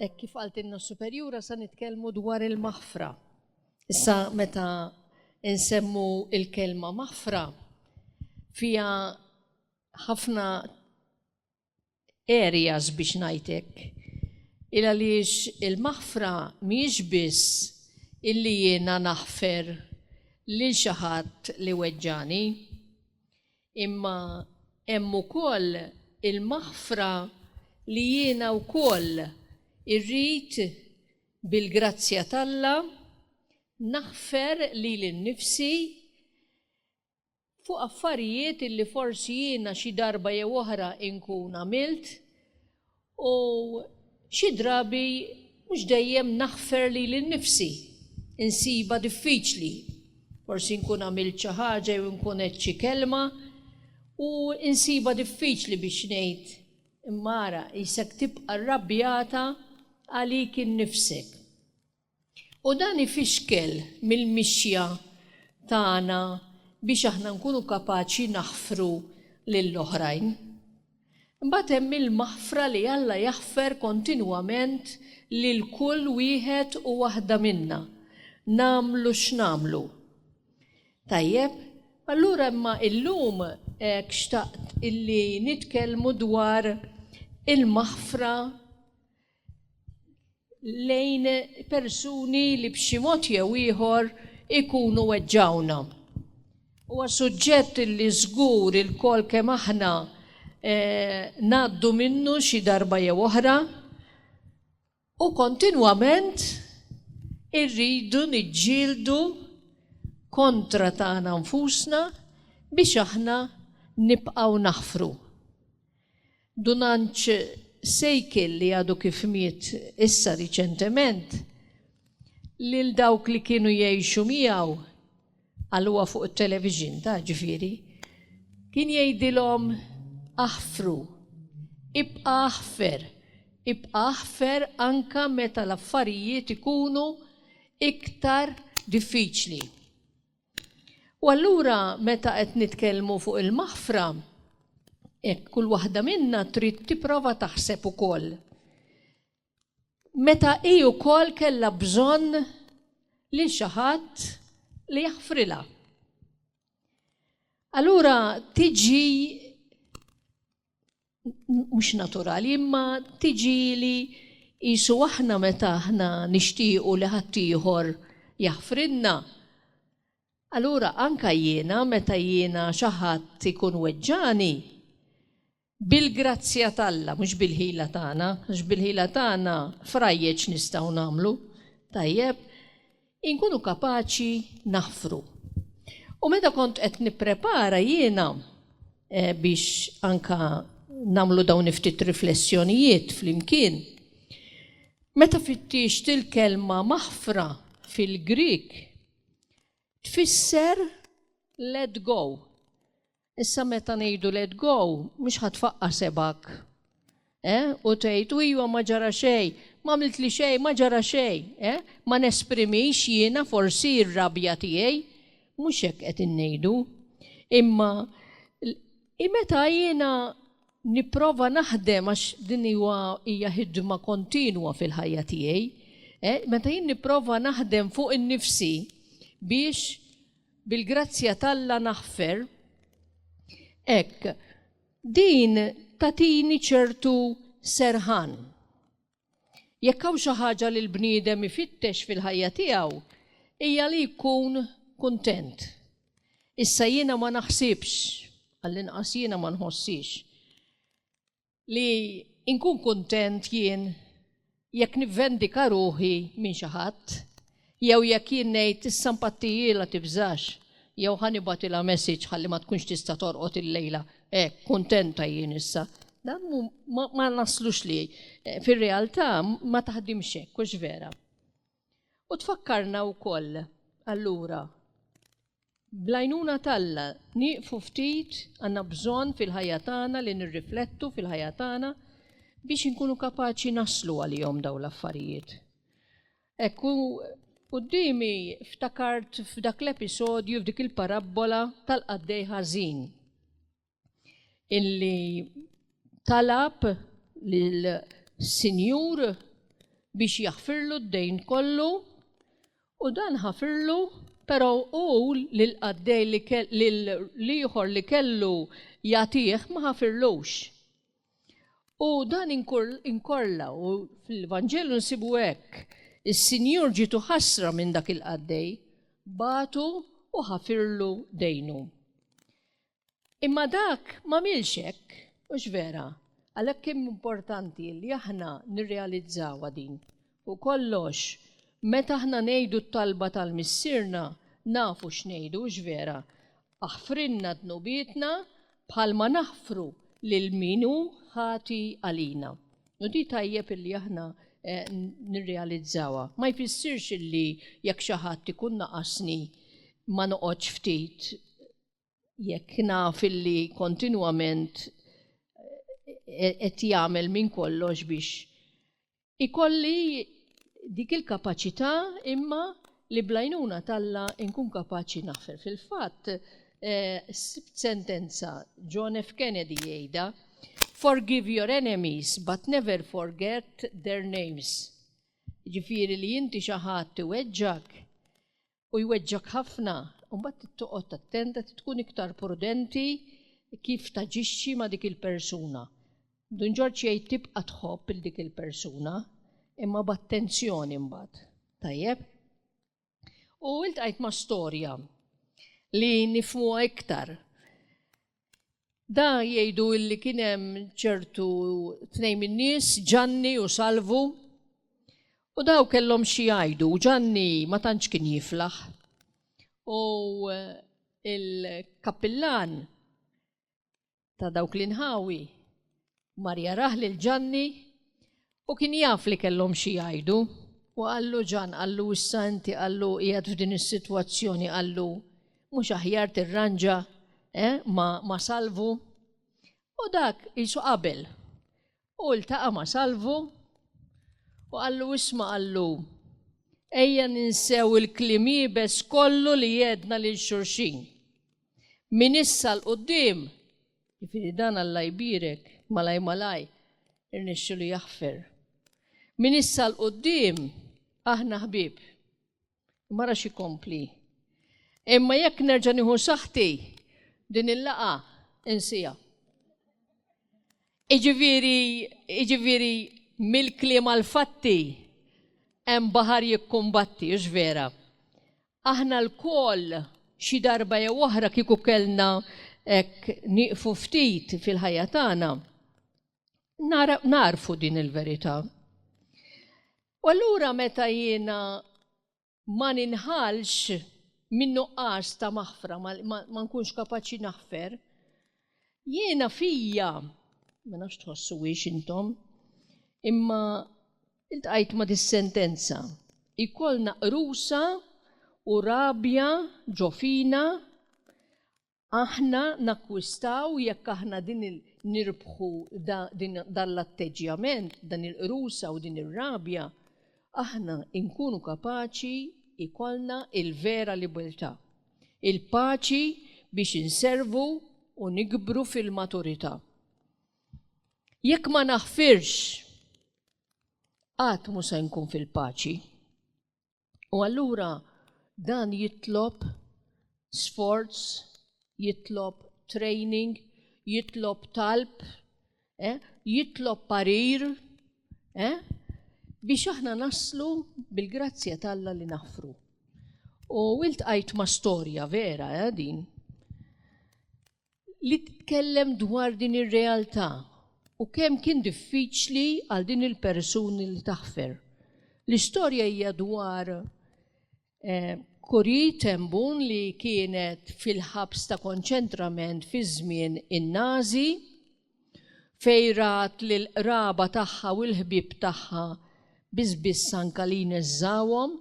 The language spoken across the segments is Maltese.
Hekk kif qaltilna s-Superjura sa nitkellmu dwar il-maħfra. Issa meta insemmu il-kelma maħfra fija ħafna areas biex ngħidlek. Il għaliex il-maħfra mhijiex biss illi jiena naħfer lil xi ħadd li weġġani. Imma hemm ukoll il-maħfra li jiena wkoll irrid bil-grazzja t'Alla naħfer lili nnifsi fuq affarijiet li forsi jiena xi darba jew oħra nkun għamilt U xi drabi mhux dejjem naħfer lili nnifsi, insibha diffiċli. Forsi nkun għamilt xi ħaġa jew inkun għedt xi kelma u insibha diffiċli biex ngħid, Imma ara, qisek tibqa' rrabjata għalik innifsek. U dan ifixkel mill-mixja tagħna biex aħna nkunu kapaċi naħfru lill-oħrajn. Imbagħad hemm il-maħfra li Alla jaħfer kontinwament lil kull wieħed u waħda minna, nagħmlu x'nagħmlu. Tajjeb, allura imma illum hekk xtaqt illi nitkellmu dwar il-maħfra lejn persuni li b'xi mod jew ieħor ikunu weġġgħuna. Huwa suġġett li żgur ilkoll kemm aħna ngħaddu minnu xi darba jew oħra u kontinwament irridu niġġieldu kontra tagħna nfusna biex aħna nibqgħu naħfru. Dunanċ Sejkil li għadu kif miet issa riċentement, lil dawk li kienu jgħixu miegħu, qalluha fuq it-television ta' ġifieri, kien jgħidilhom aħfru, ibqa' aħfer, ibqa' aħfer anke meta l-affarijiet ikunu iktar diffiċli. U allura meta qed nitkellmu fuq il-maħfra, hekk kull waħda minna trid tipprova taħseb ukoll meta hi wkoll kellha bżonn lil xi ħadd li jaħfrilha. Allura tiġi mhux naturali, imma tiġili qisu aħna meta aħna nixtiequ li ħaddieħor jaħfrilna. Allura anke jiena meta jiena xi ħadd ikun weġġagħni, bil-grazzja t'Alla, mhux bil-ħila tagħna, għax bil-ħila tagħna frajjeġ nistgħu nagħmlu, tajjeb, Inkunu kapaċi naħfru. U meta kont qed nipprepara jiena biex anke nagħmlu dawn il-ftit riflessjonijiet flimkien, meta fittixt il-kelma maħfra fil-Grieg tfisser let go. Issa meta ngħidu let go, mhux ħa tfaqqar sebgħek, eh, u tgħid, u ijwa ma ġara xejn, m'għamiltli xejn, ma ġara xejn, eh, ma nesprimix jiena forsi r-rabja tiegħi, mhux hekk qed ingħidu. Imma i meta jiena nipprova naħdem għax din huwa hija ħidma kontinwa fil-ħajja tiegħi, eh, meta jien nipprova naħdem fuq innifsi biex Bil-grazzja t'Alla naħfer. Hekk, din tagħtini ċertu serħan. Jekk hawn xi ħaġa li l-bniedem ifittex fil-ħajja tiegħu, hija li jkun kuntent. Issa jiena ma naħsibx, għall-inqas jiena ma nħossix, li nkun kuntent jien jekk nivvendika ruħi minn xi ħadd, jew jekk jien ngħid, issa mpattijilha tibżax, jew ħa nibgħatilha messaġġ ħalli ma tkunx tista' torqod illejla, hekk, kuntenta jien issa. Dan ma naslux li fir-realtà ma taħdimx hekk, hux vera? U tfakkarna wkoll, allura, bl-għajnuna t'Alla, nieqfu ftit, għandna bżonn fil-ħajja tagħna li nirriflettu fil-ħajja tagħna biex inkunu kapaċi naslu għalihom dawn l-affarijiet. Hekk u quddiemi ftakart f'dak l-episodju, f'dik il-parabbola tal-qaddej ħażin. illi talab lill-Sinjur biex jaħfirlu d-dejn kollu u dan ħafirlu però u lill-qaddej li l-ieħor li kellu jagħtih ma ħafirlux. U dan inkorla u fil-Vanġelu nsibu hekk is-Sinjur ġitu ħasra minn dak il-qaddej batu u ħafirlu dejnu. Imma dak m'għamilx hekk, hux vera? Għalhekk kemm importanti li aħna nirrealizzawha din. Fuq kollox, meta aħna ngħidu t-talba tal-Missierna, nafu x'ngħidu, hux vera? Aħfrilna dnubietna bħalma naħfru lil min hu ħati għalina. U din tajjeb illi aħna nirrealizzawha. Ma jfissirx illi jekk xi ħadd ikun naqasni ma noqgħodx ftit jekk naf illi kontinwament eh, qed jagħmel minn kollox biex ikolli dik il-kapaċità imma li blajnuna talla inkun kapaċi naħfer. Fil-fatt, eh, sentenza John F. Kennedy jgħida, Forgive your enemies, but never forget their names. Ġifiri li jinti xaħat weġġak, u jweġġgħek ħafna, imbagħad trid toqgħod attent, trid tkun iktar prudenti kif taġixxi ma' dik il-persuna. Dun Ġorġ jgħid tibqa' tħobb 'il dik il-persuna, imma b'attenzjoni mbagħad. Tajjeb? U iltqajt ma' storja li nifhmuha iktar. Da jgħidu illi kien hemm ċertu tnejn min-nies, Ġanni u Salvu, u daw kellhom xi jgħidu. Ġanni ma tantx kien jiflaħ. U il-kappillan ta' dawk l-inħawi Mar jarah lil Ġanni u kien jaf li kellhom xi jgħidu, u qallu, Ġann, qallu, issa inti, qallu, qiegħed f'din is-sitwazzjoni, qallu, mhux aħjar tirranġa, eh, ma', ma' Salvu? U dak qisu qabel. U ltaqa' ma' Salvu u qallu, isma', qallu, ejja ninsew il-kliem iebes kollu li għedna lil xulxin. Minn issa 'l quddiem Jiġifieri dan Alla jbierek, malaj malaj irnexxielu jaħfer. Minn issa 'l quddiem aħna ħbieb. Imma ara x'ikompli. Imma jekk nerġa' nieħu saħħti din il-laqgħa insiha. Iġifieri, iġifieri mill-kliem għall-fatti hemm baħar jikkumbatti, hux vera? Aħna lkoll xi darba jew oħra kieku kellna hekk nieqfu ftit fil-ħajja tagħna, nagħrfu din il-verità. U allura meta jiena ma ninħallx min-nuqqas ta' maħfra, ma nkunx kapaċi naħfer, jiena fija, ma nafx tħossuhiex intom, imma Iltqajt ma' dis-sentenza. Ikollna qrusa u rabja ġo fina, aħna nakkwistaw jekk aħna din il nirbħu da din dan l-atteġġjament, dan il-qrusa u din ir-rabja, aħna inkunu kapaċi ikollna il-vera libertà, il-paċi biex inservu u nikbru fil-maturità. Jekk ma naħfirx, qatt mhu se nkun fil-paċi. U allura dan jitlob sforz, jitlob training, jitlob talb, eh? jitlob parir, eh? biex aħna naslu bil-grazzja talla li naħfru. U wilt għajt ma' storja vera eh, din. li titkellem dwar din ir-realtà u kemm kien diffiċli għal din il-persuni li taħfer. L-istorja hija dwar eh, Kuri Tembun li kienet fil-ħabs ta' konċentrament fi żmien in-Nazi fejrat lil qraba tagħha u l-ħbieb tagħha biss biss anka li jneżżawhom.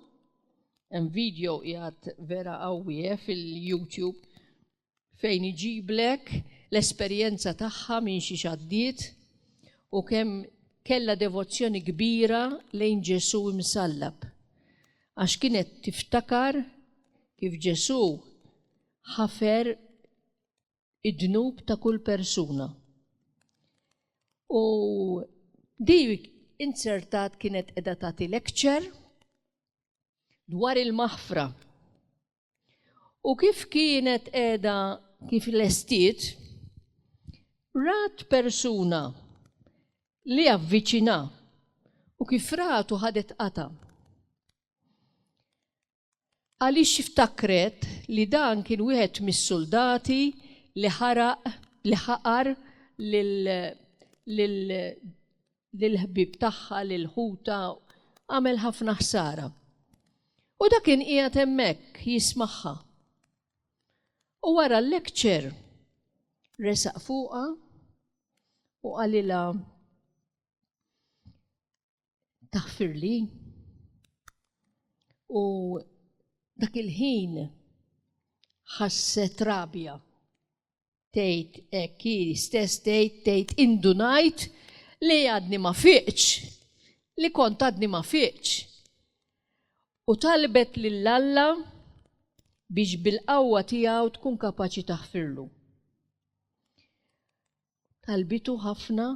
Hemm video qiegħed vera qawwi eh, fil-YouTube. fejn iġiblek l-esperjenza tagħha minn xiex għaddiet u kemm kellha devozzjoni kbira lejn Ġesù imsallab, għax kienet tiftakar kif Ġesù ħafer id-dnub ta' kull persuna. U di inzertat kienet qiegħda tagħti lecture dwar il-maħfra. U kif kienet qiegħda kif lestiet, rat persuna li avviċina u kif ratu ħadet qata. Għaliex ftakret li dan kien wieħed mis-suldati li ħaraq li ħaqar lil lill-ħbieb tagħha, lil ħutha, għamel ħafna ħsara. U dak kien qiegħed hemmhekk jismagħha. U wara l-lecture resaq fuqha u qalilha taħfirli u dak il-ħin ħasset rabja Tgħid hekk hi stess tgħid tgħid indunajt li għadni ma fiqtx, li kont għadni ma fiqtx. U talbet lil Alla biex bil-qawwa tiegħu tkun kapaċi taħfirlu. Talbitu ħafna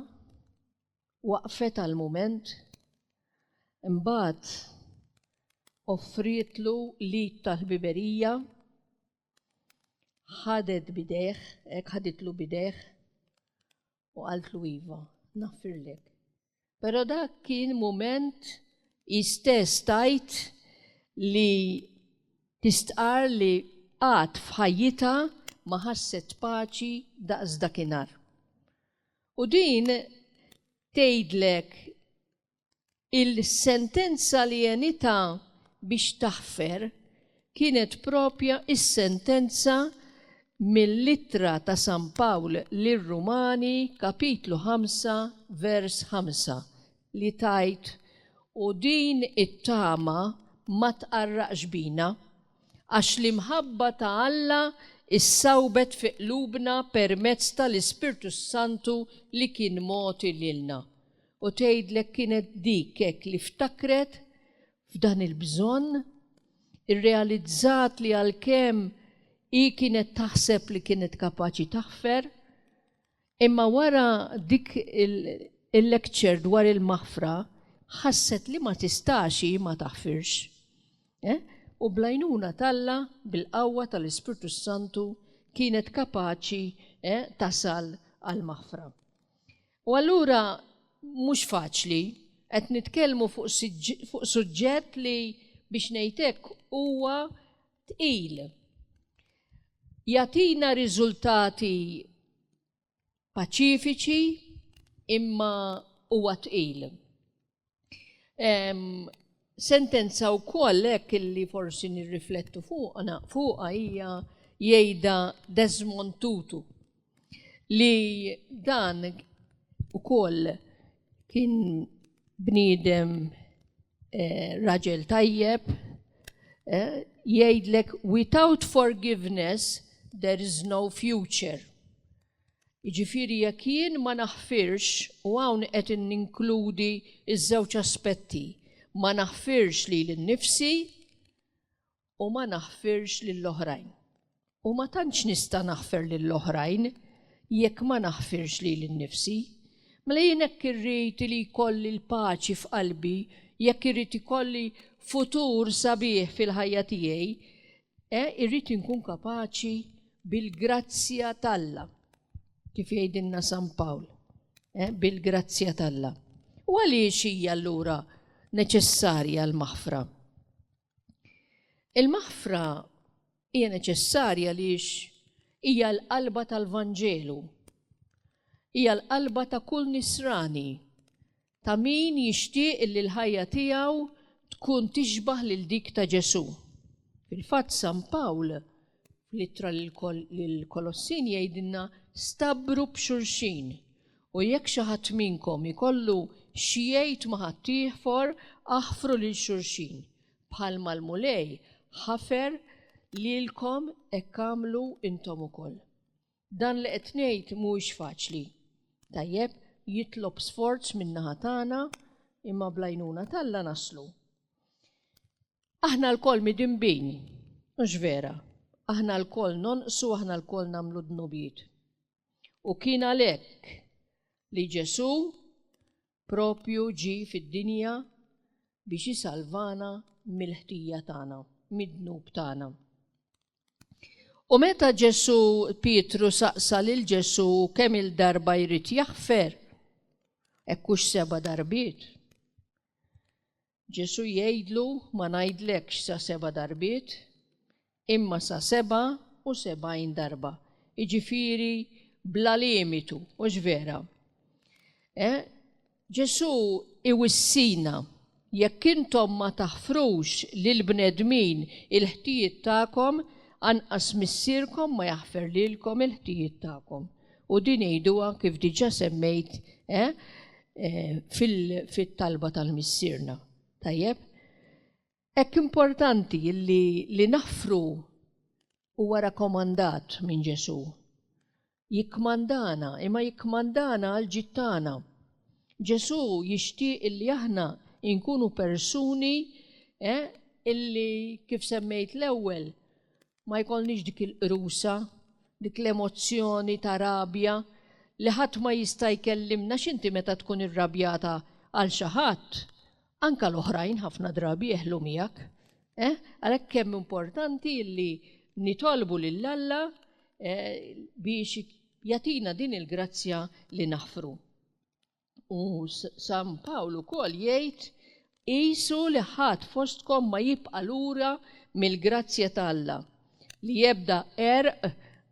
waqfet għal mument imbagħad offrietlu l-id tal-ħbiberija ħadet bidejh, hekk ħaditlu bidejh u qaltlu iva, naffirlek. Però dak kien mument istess tajt li tistqar li qatt f'ħajjitha ma ħasset paċi daqs dakinhar. U din tgħidlek Il-sentenza li għenitha biex taħfer kienet proprja s-sentenza mill-Ittra ta' San Pawl lir-Rumani kapitlu ħamsa vers ħamsa li tgħid, U din it-tama ma tqarraqx bina, għax l-imħabba ta' Alla ssawbet fi qlubna permezz tal-Ispirtu s-Santu li kien mogħti lilna. U tgħidlek kienet dik hekk li ftakret f'dan il-bżonn, irrealizzat li għalkemm hi kienet taħseb li kienet kapaċi taħfer, imma wara dik il-lecture dwar il-maħfra ħasset li ma tistax hi ma taħfirx. Eh? U bl-għajnuna t'Alla, bil-qawwa tal-Ispirtu s-Santu, kienet kapaċi eh, tasal għall-maħfra. U allura mhux faċli. Qed nitkellmu fuq suġġett li biex ngħid hekk huwa tqil. Jagħtina riżultati paċifiċi imma huwa tqil. Sentenza wkoll hekk illi forsi nirriflettu fuqna fuqha hija jgħidha Desmond Tutu li dan ukoll kien bniedem eh, raġel tajjeb eh, jgħidlek without forgiveness there is no future. Jiġifieri jekk jien ma naħfirx, u hawn qed ninkludi ż-żewġ aspetti, ma naħfirx lili nnifsi u ma naħfirx lill-oħrajn. U ma tantx nista' naħfer lill-oħrajn jekk ma naħfirx lili nnifsi. Mela jien hekk irrid li jkolli l-paċi f'qalbi, jekk irrid ikolli futur sabiħ fil-ħajja tiegħi, E irrid inkun kapaċi bil-grazzja t'Alla, kif jgħidilna San Pawl, eh, bil-grazzja t'Alla. U għaliex hija allura neċessarja l-maħfra? Il-maħfra hija neċessarja għaliex hija l-qalba tal-Vanġelu. Hija l-qalba ta' kull nisrani Ta' min jixtieq li l-ħajja tiegħu tkun tixbah lil dik ta' Ġesù. Fil-fatt San Pawl, fl-Ittra lill-Kolossin jgħidilna stabbru b'xulxin, u jekk xi ħadd minnkom ikollu xi jgħid ma' ħaddieħor aħfru lil xulxin, bħalma l-Mulej ħafer lilkom hekk agħmlu intom ukoll. Dan li qed ngħid mhuwiex faċli, tajjeb, jitlob sforz min-naħa tagħna, imma bl-għajnuna t'Alla naslu. Aħna lkoll midinbin, hux vera? Aħna lkoll nonqsu, aħna lkoll nagħmlu dnubiet. U kien għalhekk li Ġesù Proprju ġie fid-dinja biex isalvana mill-ħtija tagħna, mid-dnub tagħna. U meta Ġesù, Pietru saqsa lil Ġesù kemm-il darba jrid jaħfer, hekk hux seba' darbiet, Ġesù jgħidlu, Ma ngħidlekx sa seba' darbiet, imma sa sebgħa u sebgħin darba, jiġifieri bla limitu, mhux vera? Eh? Ġesù iwissina, jekk intom ma taħfrux lill-bnedmin il-ħtijiet tagħkom, anqas Missierkom ma jaħfer lilkom il-ħtijiet tagħkom. U din għiduha kif diġà semmejt fit-talba tal-Missierna. Tajjeb? Hekk importanti li naħfru huwa rakkomandat minn Ġesù. Jikkmandana, imma jikkmandana għall-ġid tagħna. Ġesù jixtieq li aħna nkunu persuni li, kif semmejt l-ewwel, Ma jkollniex dik il-qrusa, dik l-emozzjoni ta' rabja li ħadd ma jista' jkellimna għax inti meta tkun irrabjata għal xi ħadd, anke l-oħrajn ħafna drabi jeħlu miegħek. Eh? Għalhekk kemm importanti li nitolbu lil Alla eh, biex jagħtina din il-grazzja li naħfru. U San Pawl ukoll jgħid, Qisu li ħadd fostkom ma jibqa' lura mill-grazzja ta' Alla, li ebda għerq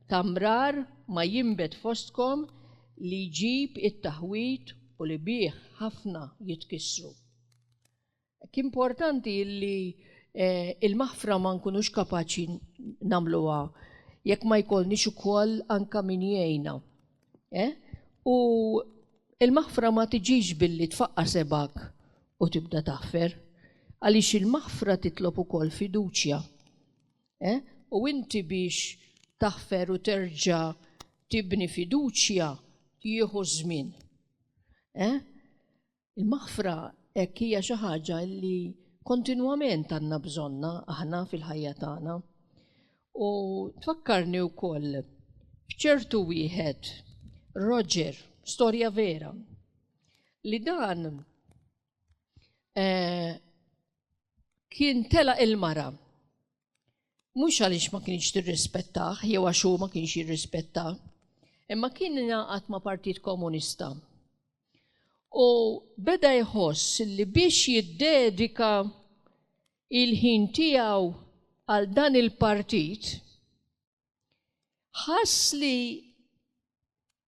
ta' mrar ma jinbet fostkom li jġib it-taħwid u li bih ħafna jitkissru. Hekk importanti li l-maħfra ma nkunux kapaċi nagħmluha jekk ma jkollniex ukoll anke min jgħinna. U l-maħfra ma tiġix billi tfaqqa' sebgħek u tibda taħfer, għaliex il-maħfra titlob ukoll fiduċja. U inti biex taħfer u terġa' tibni fiduċja jieħu ż-żmien. Il-maħfra hekk hija xi ħaġa li kontinwament għandna bżonnha aħna fil-ħajja tagħna. U tfakkarni wkoll b'ċertu wieħed Roger, storja vera, li dan eh, kien tela il-mara Mhux għaliex ma kienx tirrispettah jew għax hu ma kienx jirrispetta, imma kien ingħaqad ma' Partit Komunista. U beda jħoss li biex jiddedika il-ħin tiegħu għal dan il-partit, ħass li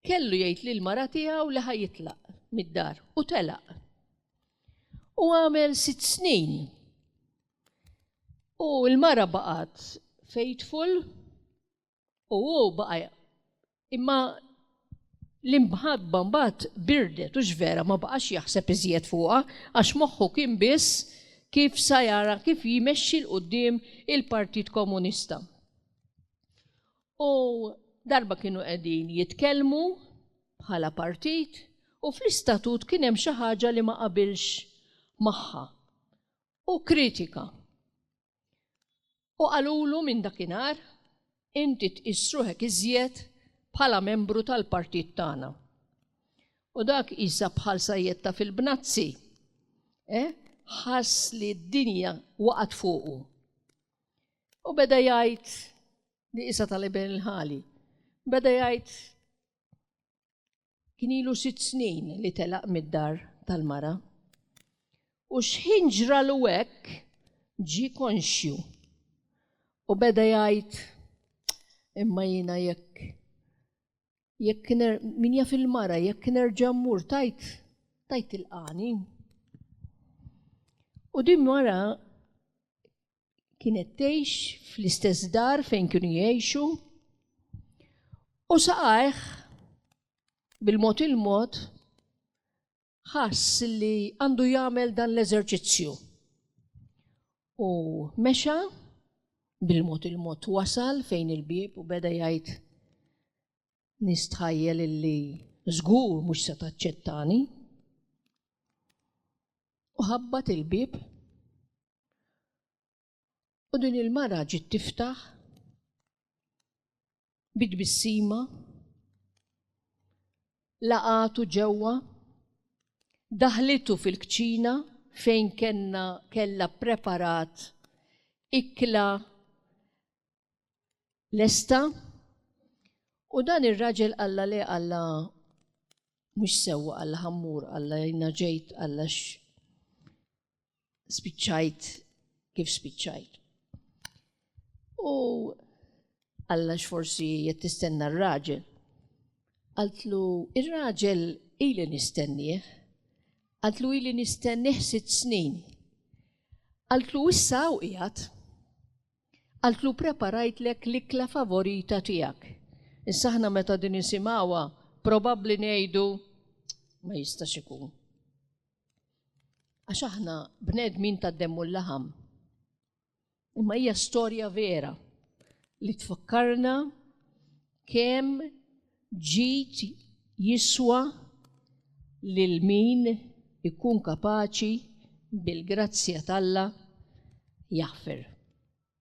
kellu jgħid lil mara tiegħu li ħajitlaq mid-dar u telaq. U għamel sitt snin. U l-mara baqgħet faithful u hu baqa' Imma l-imħadba mbagħad birdet u x'vera ma baqax jaħseb iżjed fuqha għax moħħu kien biss kif sa jara kif jmexxi 'l quddiem il-Partit Komunista. U darba kienu qegħdin jitkellmu bħala partit u fl-istatut kien hemm xi ħaġa li ma qabilx magħha u kritika. U qalulu minn dakinhar, Inti tqis ruħek iżjed bħala membru tal-partit tagħna. U dak qisha bħal sajjetta fil-bnazzi, eh, ħass li d-dinja waqgħet fuqu. U beda jgħid li qisha tal-Iben il-Ħali. Beda jgħid Kien ilu sitt snin li telaq mid-dar tal-mara, u x'ħin ġralu hekk ġie konxju u beda jgħid, Imma jiena jekk, jekk min jaf il-mara jekk nerġa' mmur tgħid, tgħid tilqagħni. U din mara kienet tgħix fl-istess dar fejn kienu jgħixu u saqajh bil-mod il-mod ħass li għandu jagħmel dan l-eżerċizzju. U mexa bil-mod il-mod wasal fejn il-bib u beda jgħid nistħajjel illi żgur mhux se taċċettani. U ħabbat il-bib U din il-mara ġiet tiftaħ bid-bissima laqatu ġewwa daħlitu fil-kċina fejn kenna kella preparat ikla lesta u dan ir-raġel qalla le qalla mhux sewwa qalla ħammur qalla jina ġejt qalla spiċċajt kif spiċċajt. U qalla x'forsi qed tistenna r-raġel. Qaltlu ir-raġel ili nistennieh. Qaltlu ili nistennieh sitt snin. Qaltlu issa u qiegħed. Qaltlu preparajtlek l-ikla favorita tiegħek. Issa aħna meta din nisimgħuha probabbli ngħidu, Ma jistax ikun. Għax aħna bnedmin tad-demm u l-laħam. Imma hija storja vera li tfakkarna kemm ġid jiswa lil min ikun kapaċi bil-grazzja t'Alla jaħfer.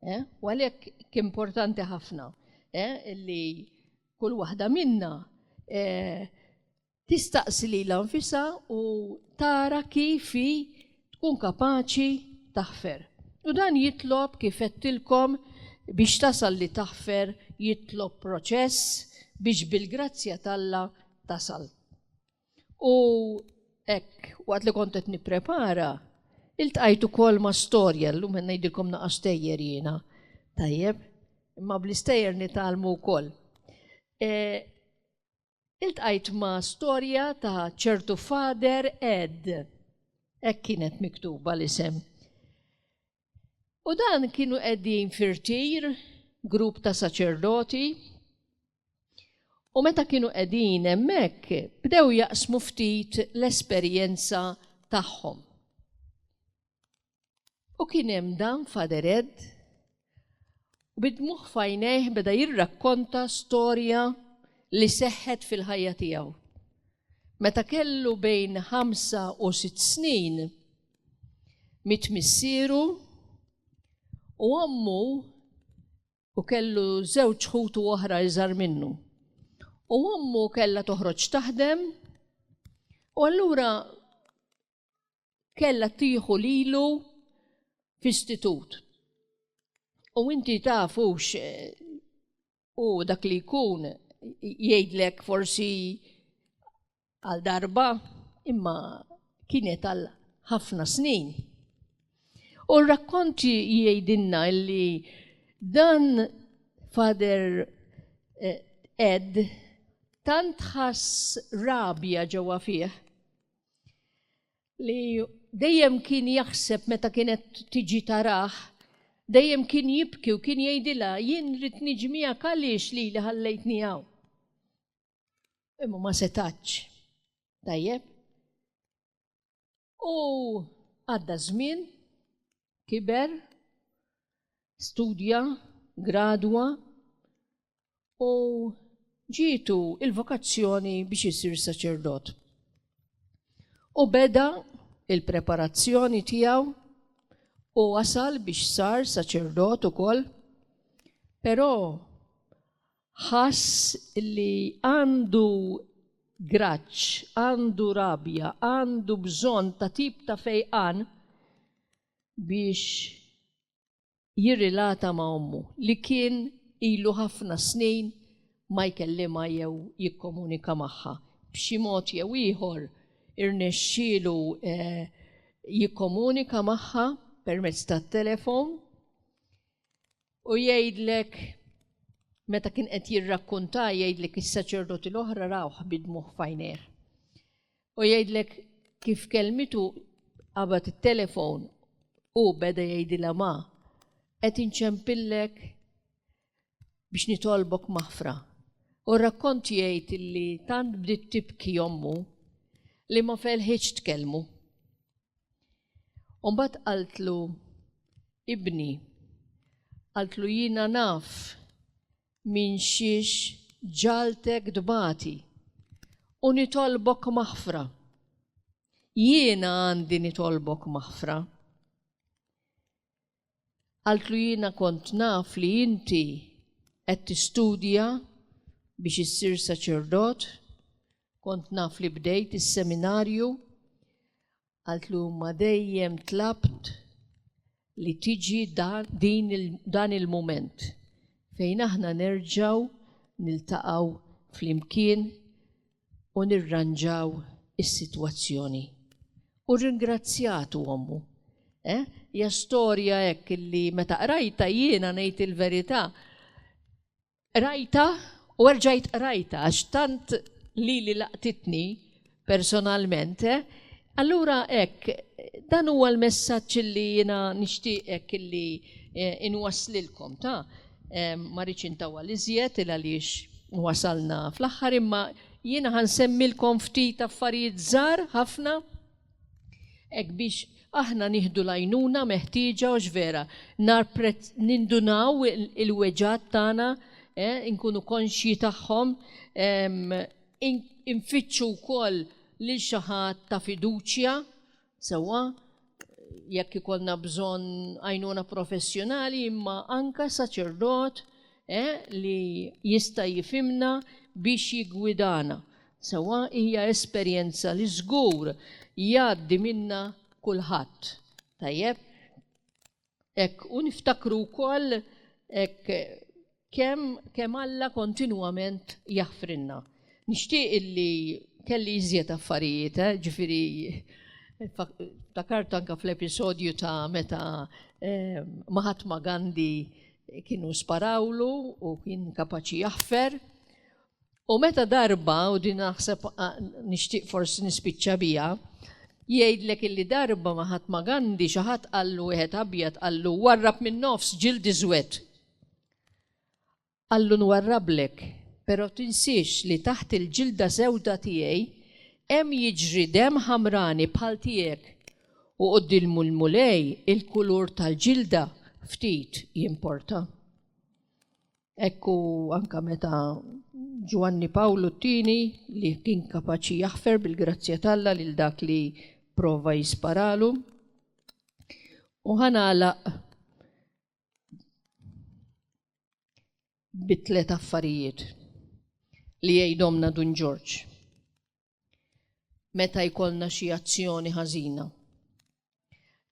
Eh? U għalhekk kien importanti ħafna eh? li kull waħda minna eh, tistaqsi lilha nfisha u tara kif hi tkun kapaċi taħfer. U dan jitlob kif għedtilkom biex tasal li taħfer jitlob proċess biex bil-grazzja t'Alla tasal. U hekk waqt li kont qed nipprepara, iltqajt ukoll ma' storja, llum qed ngħidilkom naqa' stejjer jiena. Tajjeb, imma bl-istejjer nitgħallmu wkoll. iltqajt ma' storja ta' ċertu Father Ed, hekk kienet miktuba l-isem. U dan kienu qegħdin fir-tir, grupp ta' saċerdoti, u meta kienu qegħdin hemmhekk bdew jaqsmu ftit l-esperjenza tagħhom. U kien hemm dan Father Ed u bid-dmugħ f'għajnejh beda jirrakkonta storja li seħħet fil-ħajja tiegħu. Meta kellu bejn ħamsa u sitt snin, miet missieru u ommu u kellu żewġ ħutu oħra iżgħar minnu. U ommu kellha toħroġ taħdem u allura kellha tieħu lilu f'istitut. U inti tafux eh, u dak li jkun jgħidlek forsi għal darba imma kienet għal ħafna snin. U rakkonti jgħidilna li dan Father eh, Ed tant ħass rabja ġewwa fih li dejjem kien jaħseb meta kienet tiġi taraħ, dejjem kien jibki u kien jgħidilha jien rrid niġi miegħek għaliex li li ħallejtni hawn. Imma ma setax. Tajjeb. U għadda żmien, kiber, studja, gradwa, u ġietu il-vokazzjoni biex isir saċerdot. U beda il-preparazzjoni tiegħu u wasal biex sar saċerdot ukoll, però ħass li għandu graċ, għandu rabja, għandu bżonn ta' tip ta' fejqan biex jirrilata ma' ommu li kien ilu ħafna snin ma jkellimha jew jikkomunika magħha. B'xi mod jew ieħor irnexxielu jikkomunika magħha permezz tat-telefon u jgħidlek meta kien qed jirrakkunta jgħidlek is-saċerdoti l-oħra rawh bi dmugħ f'għajnejh. U jgħidlek kif kelmitu qabad it-telefon u beda jgħidilha ma qed inċempillek biex nitolbok maħfra. U r-rakkont jgħid illi tant bdiet tibki ommu li ma felħitx tkellmu. U mbagħad qaltlu, Ibni, qaltlu jiena naf Minxiex ġaltek tbati u nitolbok maħfra. Jiena għandi nitolbok maħfra. Qaltlu jiena kont naf li inti qed tistudja biex issir saċerdot, kont naf li bdejt is-seminarju Qaltlu imma dejjem tlabt li tiġi dan il-mument fejn aħna nerġgħu niltaqgħu flimkien u nirranġaw is-sitwazzjoni. U rringrazzjatu ommu. Eh, hija storja hekk illi meta qrajtha jiena ngħid il-verità Qrajtha u erġajt qrajtha għax tant lili laqtitni personalment. Allura hekk, dan huwa l-messaġġ li jiena nixtieq hekk li inwasslilkom, ta? Ma rridx intawwal iżjed il għaliex wasalna fl-aħħar imma jiena ħa nsemmilkom ftit affarijiet żgħar ħafna. Hekk biex aħna nieħdu l-għajnuna meħtieġa hux vera, narprezz, nindunaw il-weġgħat tagħna, eh, inkunu konxji tagħhom, ehm, in, infittxu wkoll lil xi ħadd ta' fiduċja, sewwa, jekk ikollna bżonn għajnuna professjonali imma anka saċerdot eh, li jista' jifimna biex jiggwidana. Sewwa hija esperjenza li żgur jgħaddi minnha kulħadd. Tajjeb? Hekk, u niftakru wkoll hekk kemm kemm Alla kontinwament jaħfrilna. Nixtieq illi kelli iżjed affarijiet, eh, ġifieri ftakart anke fl-episodju ta' meta Mahatma Gandhi kienu sparawlu u kien kapaċi jaħfer. U meta darba, u din naħseb nixtieq forsi nispiċċa biha, jgħidlek illi darba ma ħadd ma Gandhi xi ħadd qallu wieħed abjad qallu warrab min-nofs ġild iżwed. Qallu nwarrablek, però tinsiex li taħt il-ġilda sewda tiegħi hemm jiġri demm ħamrani bħal tiegħek u quddiem il-Mulej il-kulur tal-ġilda ftit jimporta. Ekku anka meta Ġwanni Pawlu t-tieni li kien kapaċi jaħfer bil-grazzja t'Alla lil dak li prova jisparalu. U ħanalaq bit-tlet affarijiet li jgħidhomna Dun Ġorġ. meta jkollna xi azzjoni ħażina.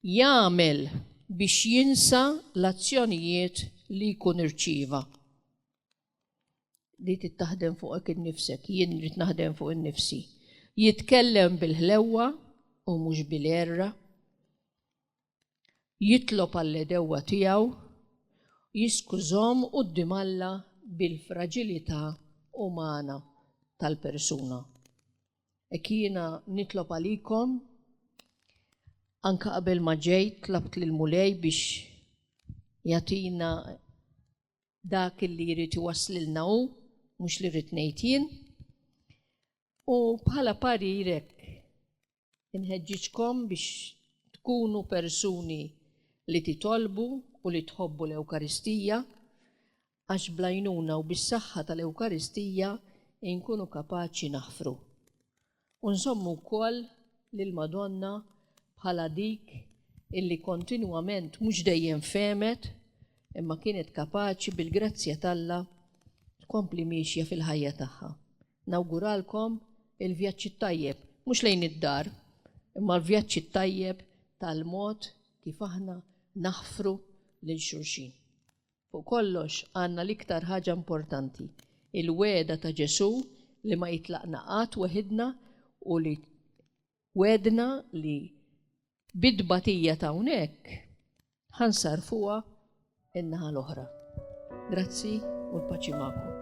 Jagħmel biex jinsa l-azzjonijiet li jkun irċieva. Li tittaħdem fuqek innifsek, jien rrid naħdem fuq innifsi. Jitkellem bil-ħlewwa u mhux bil-erra. jitlob għall-għedewwa tiegħu u jiskużahom quddiem Alla bil-fraġilità umana tal-persuna. Hekk jiena nitlob għalikom, anke qabel ma ġejt tlabt lill-Mulej biex jagħtina dak li jrid iwasslilna hu, mhux li rrid ngħid jien. U bħala parirek, Inħeġġiġkom biex tkunu persuni li titolbu u li tħobbu l-Ewkaristija, għax bl-għajnuna u bis-saħħa tal-Ewkaristija inkunu kapaċi naħfru. U nżommu wkoll lill-Madonna bħala dik illi kontinwament mhux dejjem fehmet imma kienet kapaċi bil-grazzja t'Alla tkompli miexja fil-ħajja tagħha. Nawguralkom il-vjaġġ it-tajjeb, mhux lejn id-dar, imma l-vjaġġ it-tajjeb tal-mod kif aħna naħfru lil xulxin. Fuq kollox, għandna l-iktar ħaġa importanti, il-wegħda ta' Ġesù li ma jitlaqna qatt weħidna u li u għedna li bit-tbatija ta' hawnhekk ħa nsarrfuha n-naħa l-oħra. Grazzi u l-paċi magħkom.